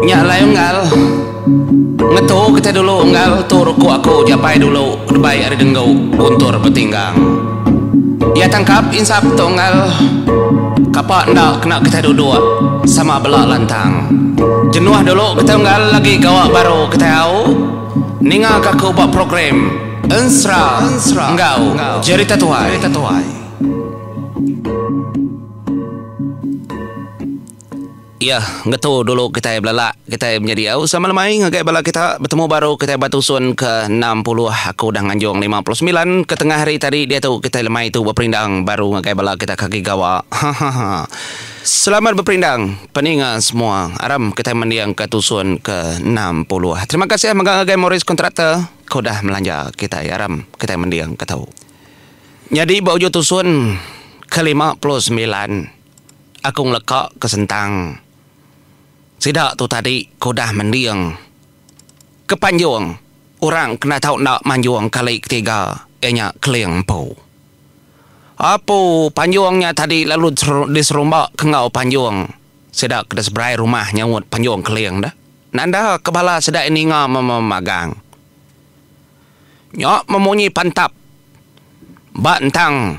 Nya alai unggal. Ngetu kitai dulu unggal tu ruku aku japai dulu debai ari denggu guntur betinggang. Iya tangkap insap tu unggal. Kapa enda kena kitai duduk sama bela lantang. Jenuh dulu kitai unggal agi gawa baru kitai au. Ninga ka aku ba program Ensra enggau jerita tuai. Iya, ngetu dulu kitai belala kitai menjadi diau sama lemai ngagai bala kita betemu baru kitai ba tusun ke enam puluh aku udah nganjung lima puluh semilan ke tengah hari tadi diatu kitai lemai tu beperindang baru ngagai bala kita ke agi gawa hahaha selamat beperindang peninga semua aram kitai mending ke tusun ke enam puluh terima kasih mega ngagai Morris Contractor ke udah melanja kitai aram kitai mending ke tu. Nyadi ba ujung tusun ke lima puluh semilan aku ngeleka ke sentang sida tu tadi ke udah mending ke panjung orang kena tau enda manjung kali ketiga iya nya Keling Empu. Apu panjung nya tadi lalu diserumba ke enggau panjung sida ke diseberai rumah nyaut panjung Keling dah. Nanda ke bala sida ninga memagang. Nya memunyi pantap ba entang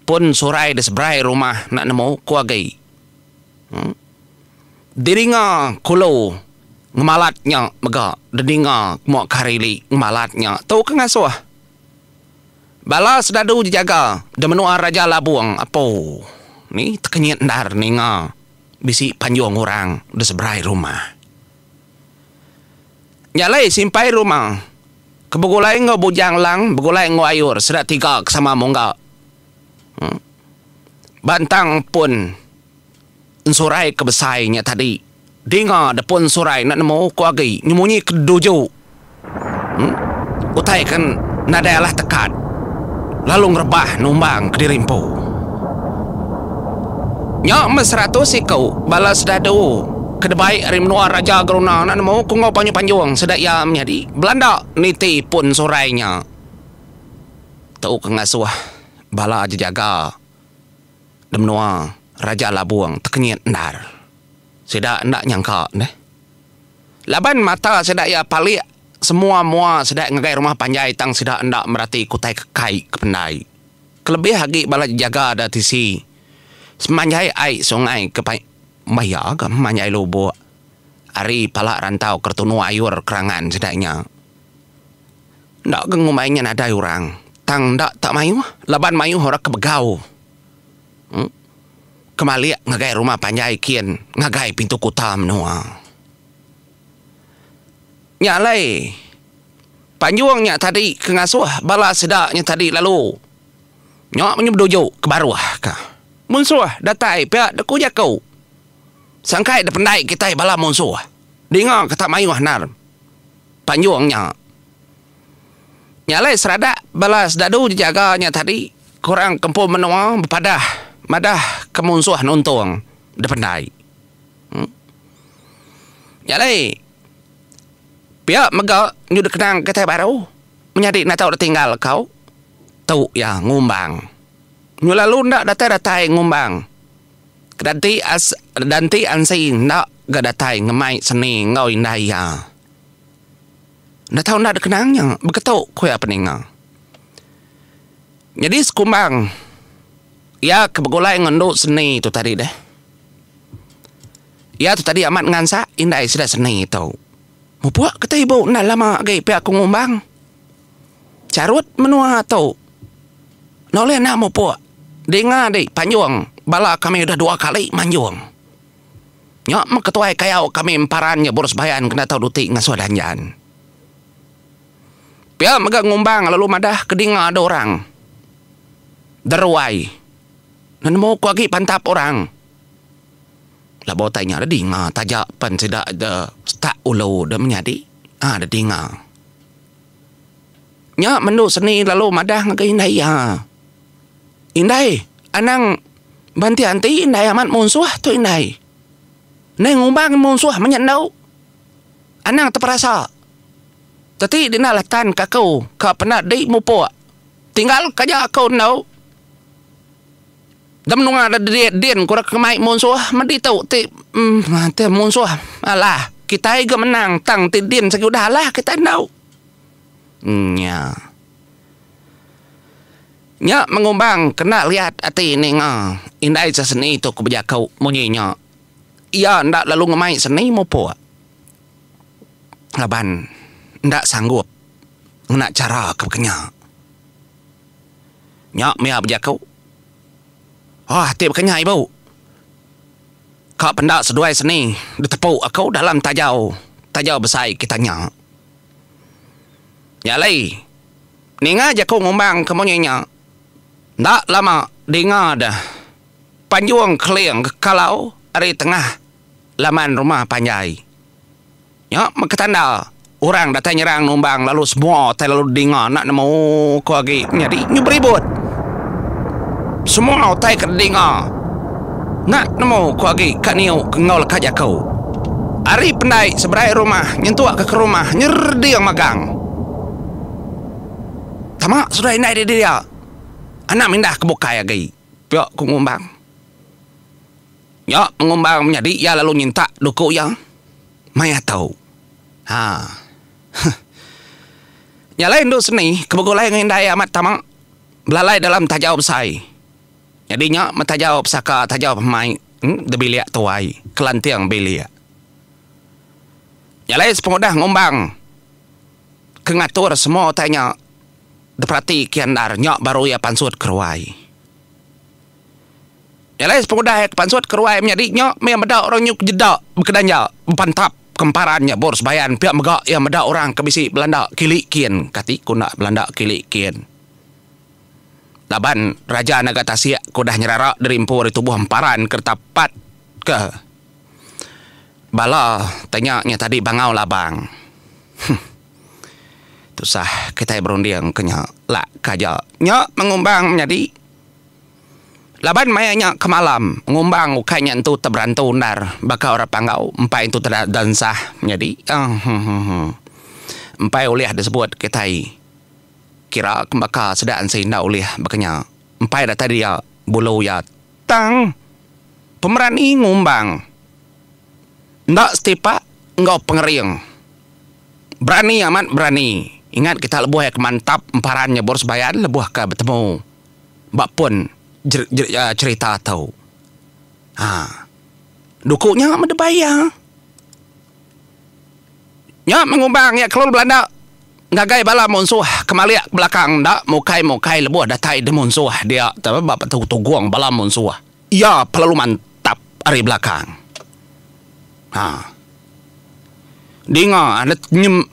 pun surai di seberai rumah enda nemu ku agi. Uhh. Diringa kulu ngemalat nya mega dininga mua ke hari li ngemalat nya tu ke ngasuh. Bala sedadu jejaga di menua Raja Labong apu ni tekenyit endar ninga bisi panjung orang di seberai rumah. Nya alai simpai ruma ke begulai enggau Bujang Lang begulai enggau Ayur sida tiga ke sama mungga. Ba entang pun ensurai ke besai nya tadi dinga deh pun ensurai enda nemu ku agi nyemunyi ke duju utai ke nadai alah tekat lalu ngerebah numbang kediri empu. Nya meh seratus iku bala sedadu. ke debai ari menua Raja Geruna enda nemu ku enggau Panyu Panjung sida iya menyadi belanda niti pun surai nya tu ke ngasuh bala jejaga di menua Raja Labung tekenyit endar. Sida enda nyangka neh laban mata sida iya palik semua mua sida ngagai rumah panjai tang sida enda merati ke utai ke kai ke pendai kelebih agi bala jejaga da tisi semanjai ai sungai ke Maya ke manjai lubuk ari pala rantau Kertunu Ayur Kerangan sedak nya. Enda ke ngumbai nya nadai orang tang enda tak mayuh laban mayuh orang ke begau uhh ke malik ngagai rumah panjai kin ngagai pintu kuta menua. Nya alai panjung nya tadi ke ngasuh bala sedak nya tadi lalu. Nya meh beduju ke baruh ka. Munsuh datai pia deku jaku. Sangkai dependai kitai bala munsuh. Dinga ke tak mayuh endar panjung nya. Nya alai seradak bala sedadu jejaga nya tadi ke orang kempun menua bepadah madah ke munsuh nuntung dependai. Em. Nya alai pia mega nyudah kenang kitai baru menyadi natau ditinggal kau. Tu iya ngumbang. Nyu lalu enda datai-datai ngumbang. Kedanti as danti ansi enda ga datai ngemai seni enggau indai iya. Enda tau enda dikenang nya beketu ku iya peninga. Nyadi sekumbang iya ke begulai enggau endu seni tu tadi deh. Iya tu tadi amat ngansak indai sida seni tu. Mupuk kata ibu enda lama agi pia aku ngumbang. Charut menua tu noleh enda mupuk dinga di panjung bala kami udah dua kali manjung nya meh ketuai kayau kami emparan nya Borus Bayan kena tau duti ngasuh danjan pia mega ngumbang lalu madah ke dinga ada orang deruai nemu ku agi pantap orang labuh utai nya da dinga taja pen sida da setak ulu da menyadi da dinga. Nya menu seni lalu madah ngagai indai iya. Indai anang bantik ati indai amat munsuh tu indai. Nai ngubang munsuh menya endo anang teperasa teti dina latan ka aku ka pena dei mupok tinggal ka ja aku endo. Ke menua da diri din ku deka mai munsuh meh ditu ti ti munsuh alah kitai ga menang tang ti din sigi udah alah kitai enda nya. Nya mengumbang ke enda riat ati ninga indai se seni tu ku bejaku munyi nya iya enda lalu ngemai seni mupuk laban enda sanggup ngena chara ke pekenya. Nya mia bejaku. Hah ti baka nya ibu. Ka penda seduai seni ditepu aku dalam tajau tajau besai kita nya. Nya alai ninga jaku ngumbang ke munyi nya enda lama dinga deh Panjung Keling ke kalau ari tengah laman rumah panjai. Nya meh ketanda orang datai nyerang numbang lalu semua tai lalu dinga enda nemu ko agi nyadi nyu beribut. Semua utai ke dinga enda nemu ko agi ka niu ke enggau leka jaku. Ari pendai seberai rumah nyentuk ke ke rumah nyerding magang. Tama sudah indai diri dia. Anang mindah ke bukai agi pia ku ngumbang. Nya pengumbar menyadi iya lalu nyintak duku iya mai atau. Ha. Huh. Nya alai endu seni ke begulai enggau indai amat tama belalai dalam tajau besai. Nyadi nya meh tajau pesaka tajau pemai debilik tuai kelanting bilik. Nya alai sepengudah ngumbang ke ngatur semua utai nya diperati kian endar nya baru iya pansut ke ruai. Nya alai sepengudah iya kepansut ke ruai menyadi nya mih iya meda orang nyu ke jeda bekedan iya bepantap ke emparan iya bor sebayan pia mega iya meda orang ke bisi belanda kili kin kati ku enda belanda kili kin laban raja naga tasik ke udah nyerara diri empu ari tubuh emparan ke reta pat ke bala tanya nya tadi bangau labang huh tusah kitai berunding ke nya lak ke aja nya mengumbang menyadi. Laban maya nya ke malam, ngumbang ukai nya entu teberantu endar baka orang Panggau, empai entu te da ensah nyadi. Eehhhhh. Empai ulih disebut kitai kira ke baka sida ensih enda ulih baka nya. Empai datai dia bulu iya tang pemerani ngumbang enda setipak enggau pengering. Berani amat berani. Ingat kita lebuh iya ke mantap emparan nyebur sebayan lebuh ke betemu. ba pun cherita tu. Haa duku nya meh debai iya. Nya meh ngubang iya kelun belanda ngagai bala munsuh kemalik ke belakang enda mukai-mukai lebuh datai deh munsuh dia tu ba petugung bala munsuh iya pelalu mantap ari belakang. Haa dinga anet nyem.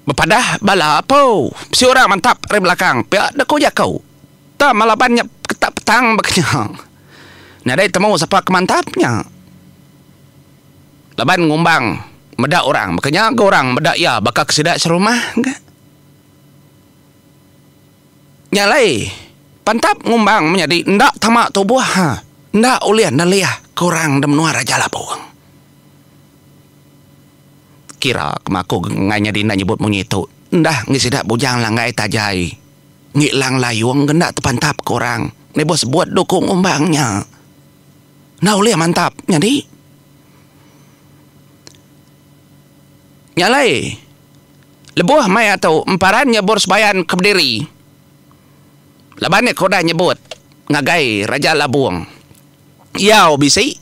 Bepadah bala apo. Bisi orang mantap ari belakang pia deka ku jako. Tang ma laban nya ketak petang baka nya. Nadai temu sapa ke mantap nya. Laban ngumbang meda orang baka nya ga orang meda iya baka ke sida serumah ga. Nya alai pantap ngumbang menyadi enda tama tubuh ha. Enda ulih nelih ke orang da menua Raja Labong. Kira kema aku enggai nyadi enda nyebut munyi itu. Enda enggi sida bujang langgai tajai. Enggi lang layung ke enda tepantap ke orang. Meh bos sebut tu ku ngumbang nya. Enda ulih mantap nyadi. Nya alai lebuh mai atu emparan nyebur sebayan ke bediri laban iya ke udah nyebut ngagai Raja Labong. Diau bisi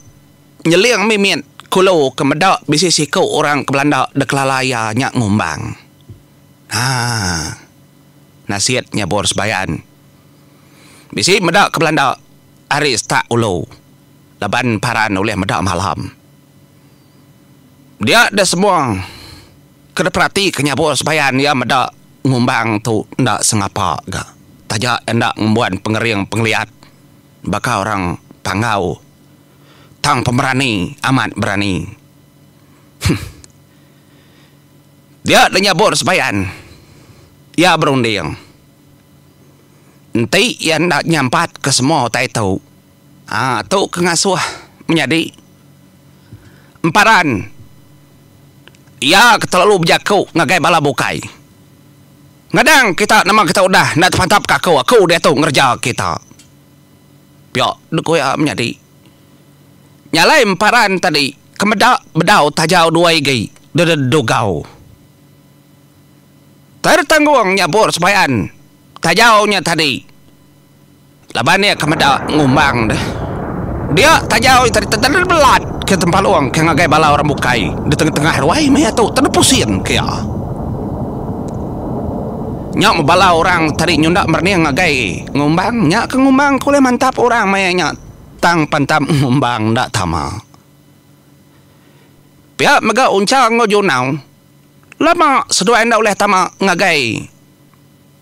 nyeling mimit kulu ke meda bisi siku orang ke belanda da kelala iya nya ngumbang. Ha. Nasit nyabur sebayan. Bisi meda ke belanda ari setak ulu laban paran ulih meda malam. Dia da semua ke diperatika nyabur sebayan iya meda ngumbang tu enda sengapa ga taja enda ngembuan pengering pengeliat. baka orang panggau tang pemerani amat berani huh dia da nyabut sebayan iya berunding enti iya enda nyampat ke semua utai tu haa tu ke ngasuh menyadi emparan iya ke telalu bejaku ngagai bala bukai. Ngadang kita nama kita udah enda tepantap ke aku, aku diatu ngereja kita. Pia dulu ku iya menyadi. Nya alai emparan tadi ke meda bedau tajau dua igi dededugau. Tertanggung nyabur sebayan tajau nya tadi. Laban iya ke meda ngumbang deh. Dia taja oi tadi tedar deh belat ke tempalung ke ngagai bala orang bukai di tengah-tengah ruai meh iya tu tedar pusing ke iya. Nya meh bala orang tadi nyunda merening ngagai ngumbang nya ke ngumbang ke ulih mantap orang maya nya tang pantap ngumbang enda tama. Pia mega Unchar enggau Junau lama seduai enda ulih tama ngagai.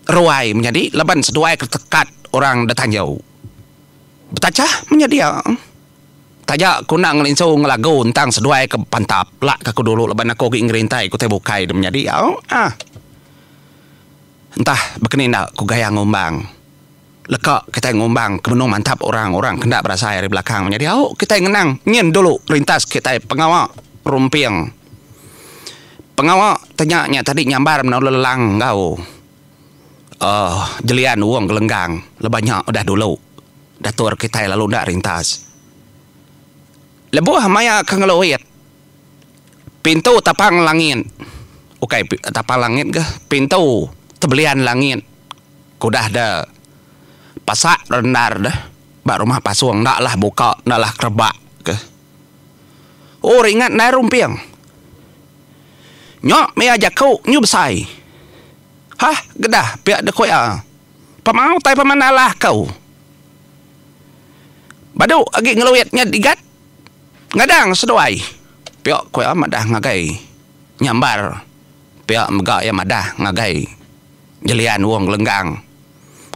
ruai menyadi laban seduai ke tekat orang detanjau betachah menyedia taja ku enda ngelinsu ngelagu entang seduai ke bepantap lak ke aku dulu laban aku agi ngerintai ke utai bukai de menyadi au ah entah bekeni enda ku gaya ngumbang. Leka kitai ngumbang ke menung mantap orang orang ke enda berasai ari belakang menyadi au kitai ngenang nyin dulu rintas kitai pengawa rumping. Pengawa te nya nya tadi nyambar meno lelelang enggau uhh jelian Wong Gelenggang leban nya udah dulu dator kitai lalu enda rintas. Lebuh maya ke ngeluit pintu tapang langit ukai tapang langit ga pintu tebelian langit. Ku udah da pasak rendar da ba rumah pasung enda lah buka enda lah kerebak ke. Oh ringat ndai rumping. Nyo mia jaku nyu besai. Hah gedah pia da ku iya. Pemau utai pemandalah ku. Badu agi ngeluit nya digat ngadang seduai pia ku iya madah ngagai nyambar pia mega iya madah ngagai. Gelian Wong Lenggang.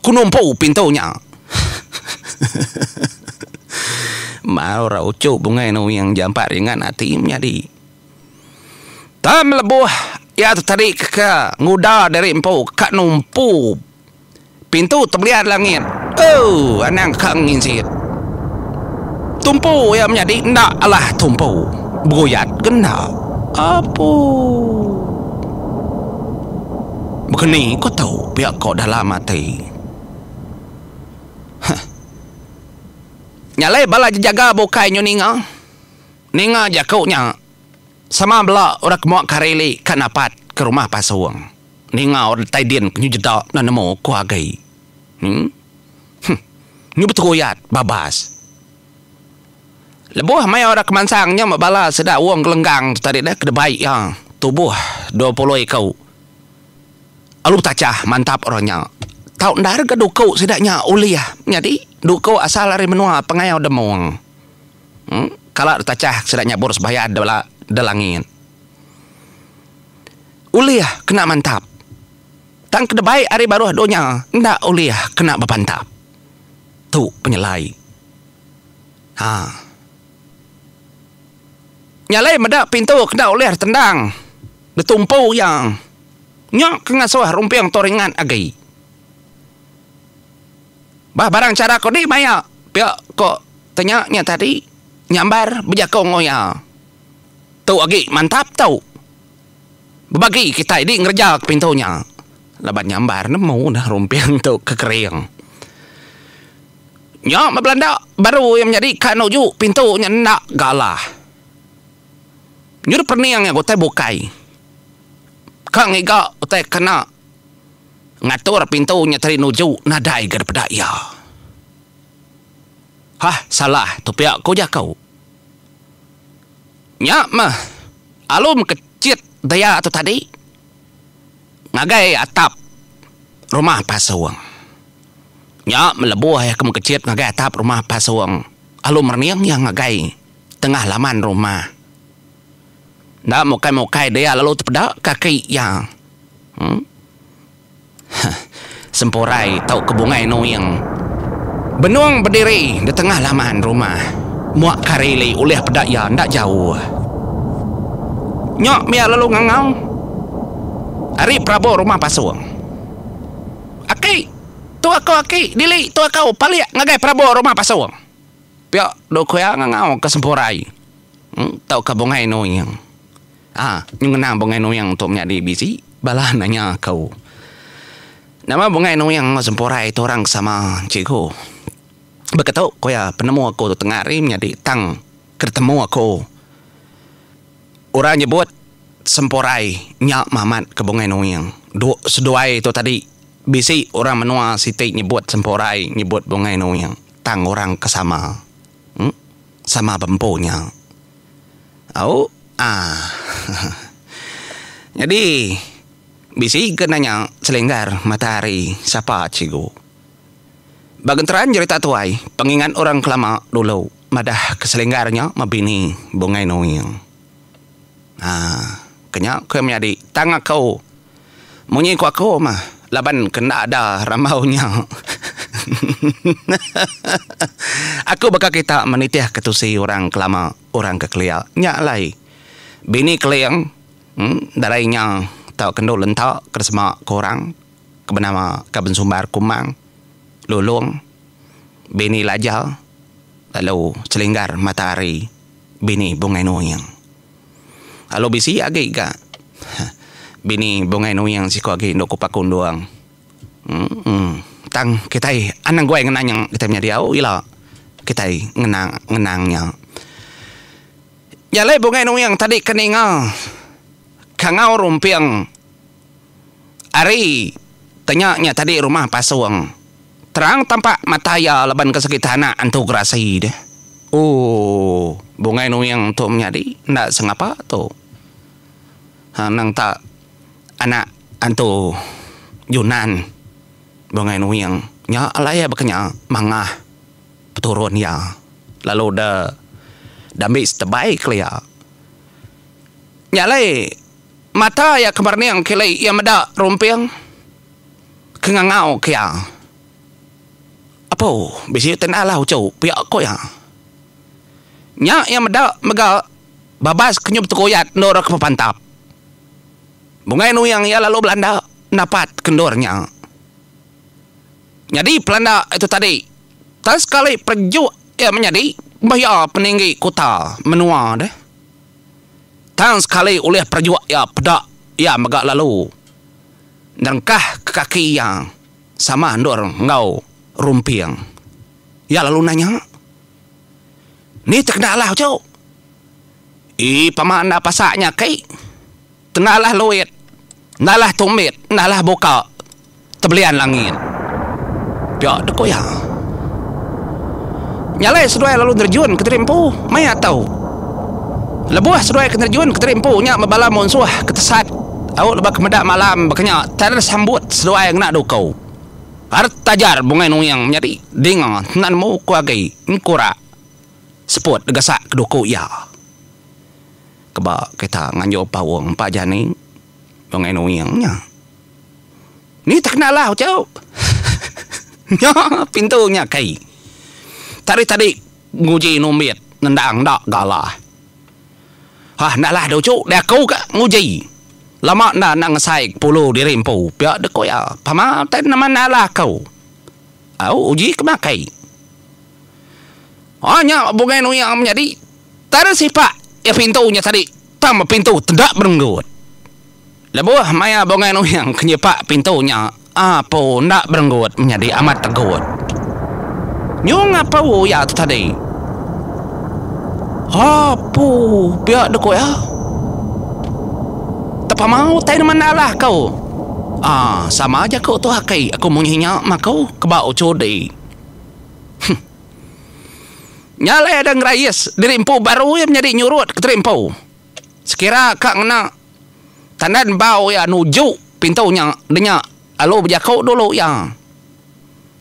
Ku numpu pintu nya. Mau ra uchu bungai nuing jampat ringat ati menyadi. Tang lebuh iya tu tadi keka nguda diri empu ka numpu pintu tebelian langit. Ooh anang ka nginsit. Tumpu iya menyadi enda alah tumpu. Beguyat ke enda. Apuh. Baka ni ko tau pia ko dalam ati. Huh. Nya alai bala jejaga bukai nyu ninga. Ninga jaku nya sama bela orang ke mua kari li ka napat ke rumah pasung. Ninga orang datai din ke nyu jeda enda nemu ko agi. Huh. Nyu beteruyat babas. Lebuh maya orang kemansang nya meh bala sida Wong Gelenggang tu tadi deh ke dibai iya tubuh dua puluh iku alu tachah mantap orang nya tau enda rega duku sida nya ulih nyadi duku asal ari menua Pengau Demong em kala ditachah sida nyabur sembahyang bala Delangit. Ulih kena mantap tang ke dibai ari baruh dunya enda ulih kena bepantap. Tu penyelai. Ha. Nya alai meda pintu ke enda ulih ditendang ditumpu iya. Nya ke ngasuh rumping tu ringat agi. Bah barang chara ko di maya pia ko tanya nya tadi nyambar bejaku enggau iya. Tu agi mantap tu. Bebagi kitai di ngereja ke pintu nya laban nyambar nemu neh rumping tu ke kering. Nya meh belanda baru iya menyadi ka nuju pintu nya enda galah. Nyudah pening iya ke utai bukai. Ka ngiga utai kena ngatur pintu nya tadi nuju nadai ga dipeda iya. Hah salah tu pia ku jaku. Nya meh, alum ke chit daya tu tadi ngagai atap rumah pasung. Nya melebuh iya ke mekechit ngagai atap rumah pasung, alum rening iya ngagai tengah laman rumah. Enda mukai-mukai daya lalu tepeda kaki iya. Em. Heh. Sempurai tauka bungai nuing. Benung bediri di tengah laman rumah. Muak kari li ulih peda iya enda jauh. Nyo mia lalu ngangau. Ari perabur rumah pasung. Aki! Tu aku aki, dili tu aku palik ngagai perabur rumah pasung. Pia dua kuya ngangauka Sempurai tauka bungai nuing. A. Nyu ngena bungai nuing tu menyadi bisi? Bala nanya aku. Nama bungai nuing enggau sempurai tu orang ke sama, cikgu? Baka tu ku iya, penemu aku tu tengah hari menyadi tang ke ditemu aku. Orang nyebut sempurai nya mamat ke bungai nuing. Du seduai tu tadi, bisi orang menua siti nyebut sempurai nyebut bungai nuing tang orang ke sama. Em sama ba empu nya. Au ah. Nyadi bisi ke nanya selenggar matahari sapa cikgu. Ba genteran jerita tuai pengingat orang kelama dulu madah ke selenggar nya mebini bungai nuing. Ha, kenya ke menyadi tang aku. Munyi ku aku mah laban ke enda ada rambau nya. aku baka kita menitihka tusi orang ke lama, orang ke kelia. Nya alai Bini Keling darai nya tauka endur lenta ke sema ke orang ke benama Kaban Sumbar Kumang, Lulong, Bini Lajal lalu Selinggar Matahari. bini Bungai Nuing. Alu bisi agi ga bini Bungai Nuing siku agi endu kupa kundung. Emm tang kitai anang guai ngena nya kitai menya diau ila kitai ngena ngenang nya. Nya alai Bungai Nuing tadi ke ninga Kangau Rumping. Ari ke nya nya tadi rumah pasung. Terang tampak mata iya laban ke segi tanak entu gerasi deh. Ooh bungai nuing tu menyadi enda sengapa tu. Hang nang tak anak entu Junan bungai nuing nya alai iya baka nya mangah peturun iya lalu da da ambi setebai kelia. Nya alai. Mata iya ke merning kili iya meda rumping ke ngangau ke iya. Apu, bisi te naalah uchu pia ku iya. Nya iya meda mega babas ke nyup tekuyat endur ke bepantap. Bungai nuyang iya lalu belanda napat ke endur nya. Nyadi pelanda ari tu tadi tang sekali perejuk iya menyadi bah iya peninggi kuta menua deh. Tang sekali ulih perajuk iya peda, iya mega lalu nerengkahka kaki iya sama endur enggau rumping. Iya lalu nanya, Ni te kena alah uchu? Ii pama enda pasak nya aki. Tengah alah luit, enda alah tumbit, enda alah buka tebelian langit. Pia ku iya. Nyalai seduai lalu nerjun ke teri empu maya tu. Lebuh seduai ke nerjun ke teri empu nya ba bala munsuh ke tesat au lebuh ke meda malam baka nya Taner sambut seduai ngena duku. Art ajar bungai nuing menyadi dinga enda nemu ku agi engku ra seput gasak ke duku iya. Keba kita nganjur paung empa jani Long and Wing nya. Ni tak kena alah uchu. Nya pintu nya key. Tadi tadi nguji numbit nendang enda ga alah. Hah enda alah dah uchu deh aku ga nguji. Lama enda enda ngesai pulu diri empu pia deh ku iya. Pama utai nama enda alah aku. Au uji kema key. Hah nya Long and Wing menyadi. Tang sipak iya pintu nya tadi tang bepintu teda berenggut. Lebuh maya Bungai Nuhing ke nyipak pintu nya, apu enda berenggut menyadi amat tegut. Nyung apu iya tu tadi. Apu pia deh ku iya. Tepama utai nemu enda lah ku. Aa sama jaku tu aki aku munyi nya maku ke ba uchu dih. Huh. Nya alai ada ngerayis diri empu baru iya menyadi nyurut ke teri empu. Sekira ka ngena tandan embau iya nuju pintu nya denya alu bejaku dulu iya.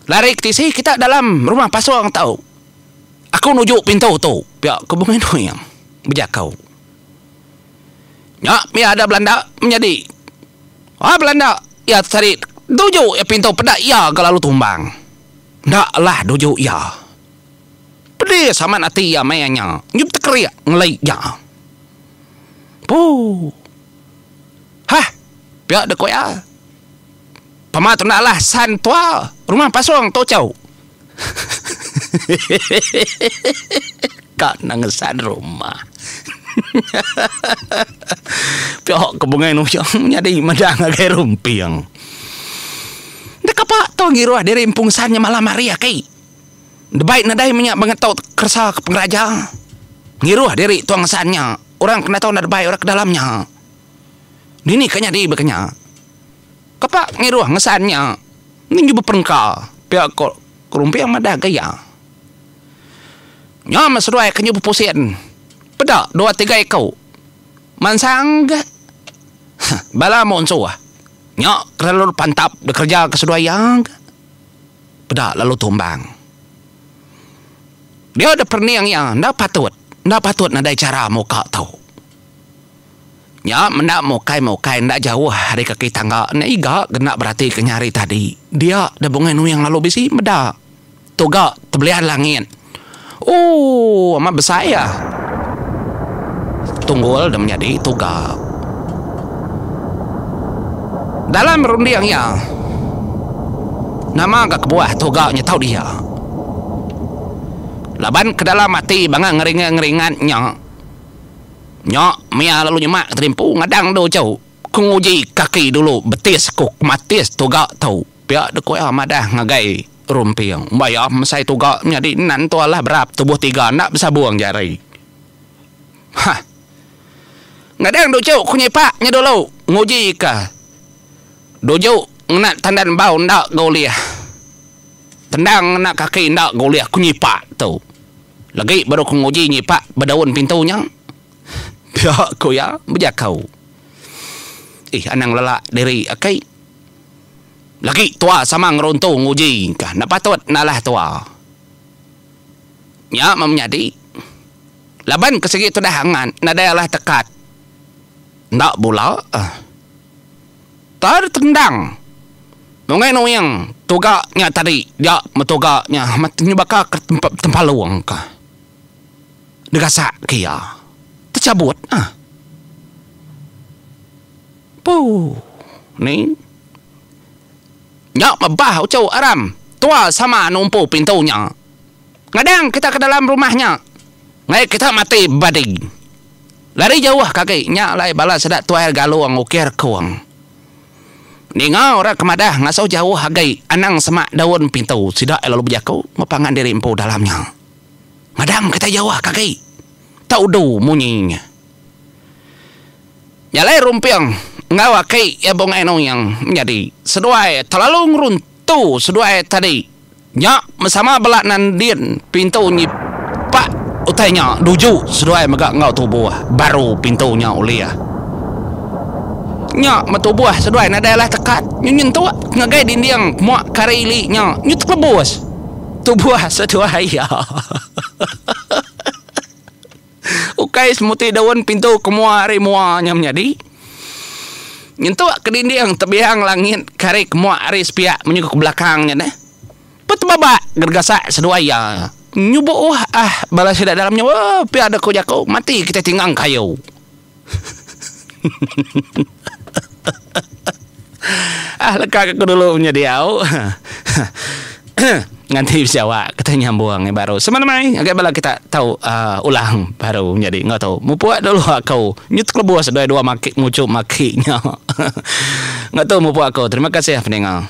Lari ke tisi kita dalam rumah pasung tu. Aku nuju pintu tu, pia ku Bung Inui bejaku. Nya mih ada belanda menyadi. Ai belanda iya tesadik nuju iya pintu peda iya ga lalu tumbang. Enda lah nuju iya. Pedis amat ati iya maya nya nyun tekerik ngelai iya. Puuh. Hah. Pia deh ku iya. Pama tu enda alah san tua rumah pasong tu chau. Hehehehehe ka nang san rumah. Hehehehehe. Pia ke bungai nujung nyadi madang agai rumping. Enda kapa tau ngiruh diri empung san nya malam hari aki. Debai nadai menya bengetok keresa ke pengeraja. Ngiruh diri tong san nya orang kena tau enda debai orang ke dalam nya. Dini ka nyadi baka nya. Kapa ngiruh ngesan nya ning jubah perengka pia ko Rumping madah ga iya. Nyam seduai ke jubah pusin peda dua tiga iku. Mansang ga ha bala munsuh nya terlalu pantap bekerja ke seduai iya ga peda lalu tumbang. Dia da perening iya enda patut enda patut nadai chara muka tu. Nya menda mukai-mukai enda jauh ari kaki tangga nya iga ke enda beratika nya hari tadi dia da bungai nuing lalu bisi meda. Tu ga tebelian langit. Ooh amat besai iya. Tunggul da menyadi tu ga. Dalam runding iya. Nama ga kebuah tu ga nyetau dia. Laban ke dalam ati bangah ngeringa ngeringat nya. Nya mia lalu nyema ke terimpu ngadang du chau. Ku nguji kaki dulu betis ku kematis tu ga tu. Pia de ku iya madah ngagai. Rumping, Baya mesai tuga nyadi nan tu alah berap tubuh tiga enda besabung jari. Hah. Ngadang Duju ku nyipak nya dulu nguji ka Duju ngena tandan bau enda ga ulih. Tendang ngena kaki enda ga ulih ku nyipak tu. Legi baru ku nguji nyipak ba daun pintu nya. Pia ku iya bejaka. Ih anang lelak diri aki. Laki tua sama ngeruntu nguji ka enda patut enda alah tua. Nya meh menyadi laban ke sigi tudah angat nadai alah tekat enda bula. Tar tendang nungai nuing tuga nya tadi dia metuga nya amat nyebaka ke tempa tempalung ka degasak ke iya. Techabut ah. Puuh. Ni. Nya mebah uchu aram. Tua sama numpu pintu nya. Ngadang kita ke dalam rumah nya. Ngai kita mati badi. Lari jauh kaki nya alai bala sida tuai galung ukir kung. Ninga orang ke madah ngasuh jauh agi anang semak daun pintu sida iya lalu bejaku mepangan diri empu dalam nya. Ngadang kita jauh kaki. Tau du munyi nya. Nyalai rumping enggau aki iya Bung Anu Yang menyadi seduai telalu ngeruntu seduai tadi nya mesama bela nan din pintu nyipak utai nya duju seduai mega enggau tubuh baru pintu nya ulih nya meh tubuh seduai nadai alah tekat nyu nyentuk ngagai dinding pemua kari ili nya nyu tekelebus tubuh seduai iya. Ukai semuti daun pintu ke mua ari mua nya menyadi. Nyentuk ke dinding tebiang langit ke ari ke mua ari sepiak menyuka ke belakang nya neh. Petebabak gergasak seduai iya. Nyubuh ah bala sida dalam nya pia deka jaku mati kitai tinggang kayu. Ah leka ke aku dulu punya diau. Nganti besawa kita nyambung ngai baru. Sama nemai ngagai bala kita tau uh, ulang baru nyadi enggau tu. Mupuk dulu aku. Nyu tekelebus dua dua maki mucu maki nya. enggau tu mupuk aku. Terima kasih peninga.